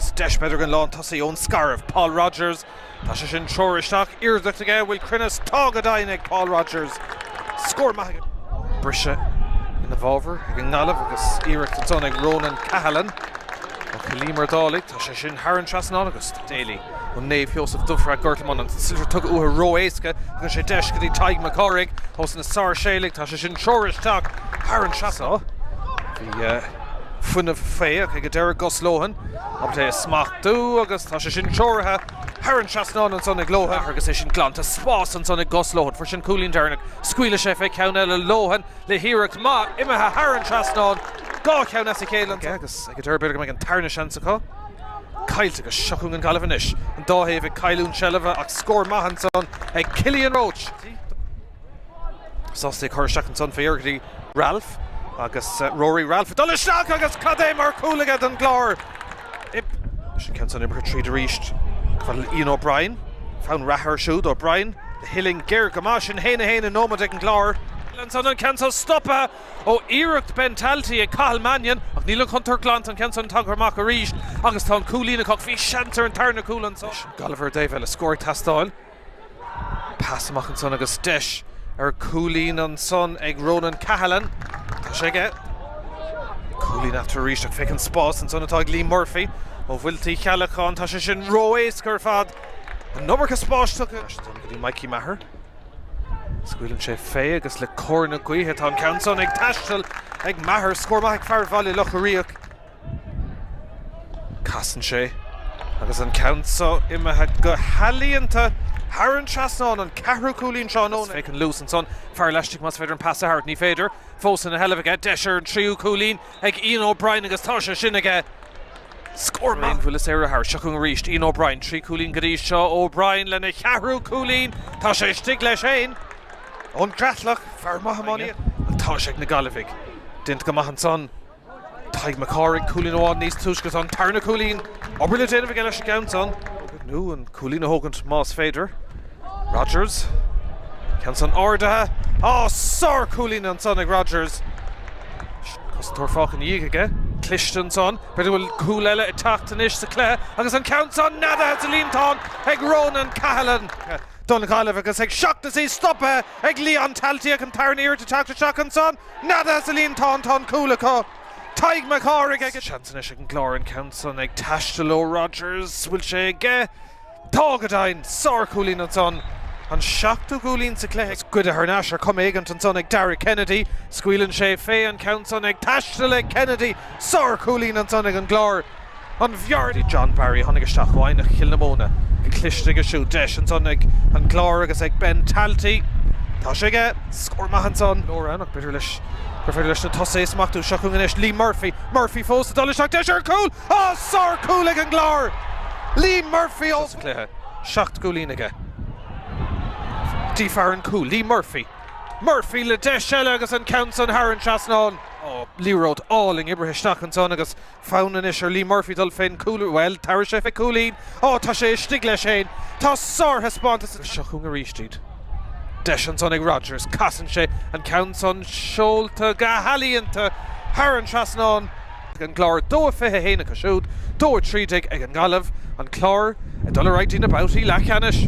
Deis b'fhéidir don lántosaí ón Scairbh, Paul Rodgers. Tá sé sin treoraithe isteach iarracht aige an bhfuil cruinneas tá go deimhin ag Paul Rodgers. Scór maith aige. Briseadh ina bhfabhar ag an nGaillimh agus iarracht ansan ag Ronan Cahalan ó Chill Íomair Dálaigh. Tá sé sin thar an trasnán agus Daly ó Naomh Sheosaimh Dúire Gort Lomán an sliotar tugtha uathu ró éasca. Tugann sé deis go dtí Tadhg Mac Cárthaigh ós na Sáirséalaigh. Tá sé sin treoraithe isteach thar an trasnán. Bhí fuinneamh féach ag an deireadh Gus Lohan ábalta é a smachtú agus tá sé sin treoraithe thar an trasnán ansan ag Lohan agus é sin glanta spás ansan ag Gus Lohan. Fuair sé an cúilín deireanach, scaoilfidh sé fé ceann eile Lohan le hiarracht maith imithe thar an trasnán, dhá cheann as a chéile ansan aige agus ag an deireadh b'fhéidir go mbeidh an tarna seans acu. Caillte agus seo chugainn an Ghaillimh anois, an dá thaobh ag cailliúint seilbhe ach scór maith ansan ag Cillian Roche. Sásta é a chur isteach ansan féach go dtí Ralph agus Rory Ralph ag dul isteach agus cad é mar chúl aige don gClár! Sin ceann san imeartha tríd arís go bhfuil Ian O'Brien, fonn reatha ar siúd. O'Brien ó uillinn ghéar go maith. Sin a haon a haon i nóiméad ag an gClár. Ansan an ceann seo stopaithe ó iarracht Ben Talty ag Cathal Mannion ach níl an chontúirt glanta. An ceann san tagtha amach arís agus tá an cúilín acu. Bhí seans ar an tarna cúl ansan. Gallagher ó Dave Ellis. Scór ag teastáil. Pas amach ansan agus deis ar cúilín ansan ag Ronan Cahalan. Tá sé aige. Cúilín eatarthu arís ach féach an spás ansan atá ag Liam Murphy ó Mhuilte Uí Cheallacháin. Tá sé sin ró-éasca ar fad. An iomarca spáis tugtha ansan go dtí Mikey Maher. Scaoileann sé fé agus le cóir na gaoithe tá an ceann san ag taisteal ag Maher. Scór maith ag fear Bhaile Locha Riach. Casann sé agus an ceann seo imithe go healaíonta thar an trasnán, an ceathrú cúilín tráthnóna agus féach an luas ansan fear laistigh más féidir an pas a thabhairt. Ní féidir. Fós ina sheilbh aige. Deis ar an tríú cúilín ag Ian O'Brien agus tá sé sin aige. Scór maith! Aon bhuille saora seo chugainn arís. Ian O'Brien, trí chúilín go dtí seo. O'Brien lena cheathrú cúilín. Tá sé istigh leis féin ón gCreatalach. Fear maith iománaíochta. Ach tá sé ag na Gaillimhigh. Déanta go maith ansan. Tadhg Mac Cárthaigh, cúilín amháin níos túisce agus an tarna cúilín, obair le déanamh aige leis an gceann san, nó an cúilín a thógaint más féidir. Rodgers, ceann san ardaithe, á, sár cúilín ansan ag Rodgers, an cosantóir fágtha ina dhiaidh aige, cliste ansan, b'fhéidir go bhfuil cúl eile ag teacht anois sa cluiche, agus an ceann san neadaithe sa líontán ag Ronan Cahalan, don Ghaillimh, agus ag seacht is í stopaithe ag Leon Talty, ach an tarna iarracht ag teacht isteach ansan, Neadaithe sa líontán, tá an cúl acu. Tadhg Mac Cárthaigh. Ach seans anois ag an gClár an ceann san ag taisteal ó Rodgers. Bhfuil sé aige? Tá go deimhin! Sárchúilín ansan, an seachtú cúilín sa chluiche agus goidte thar n-ais ar chuma éigint ansan ag Dara Kennedy. Scaoileann sé fé an ceann san ag taisteal ag Kennedy. Sárchúilín ansan ag an gClár. An bhfear dtí, John Barry a tháinig isteach ó Eidhneach Chill na Móna go cliste aige siúd. Deis ansan ag an gClár agus ag Ben Talty. Tá sé aige! Scór maith ansan. Nuair nach féidir leis gur féidir leis na tosaithe a smachtú. Seo chugainn anois Lee Murphy. Murphy fós ag dul isteach. Deis ar chúl! Á! Sár-chúl ag an gClár! Lee Murphy ó thús an chluiche. Seacht gcúilín aige. Dtí fear an chúil. Lee Murphy. Murphy le deis eile agus an ceann san thar an trasnán. Liathróid álainn oibrithe isteach ansan agus. Fonn anois ar Lee Murphy dul fén gcúl, bhuel, tabharfaidh sé fé cúilín. Ó, tá sé istigh leis fhéin! Tá sárthaispeántas seo chugainn arís iad. Deis ansan ag Rodgers. Casann sé an ceann san seolta go healaíonta thar an trasnán. Ag an gClár, 2-21 acu siúd, 2-13 ag an nGaillimh. An Clár ag dul ar aghaidh dtí na babhtaí leathcheannais.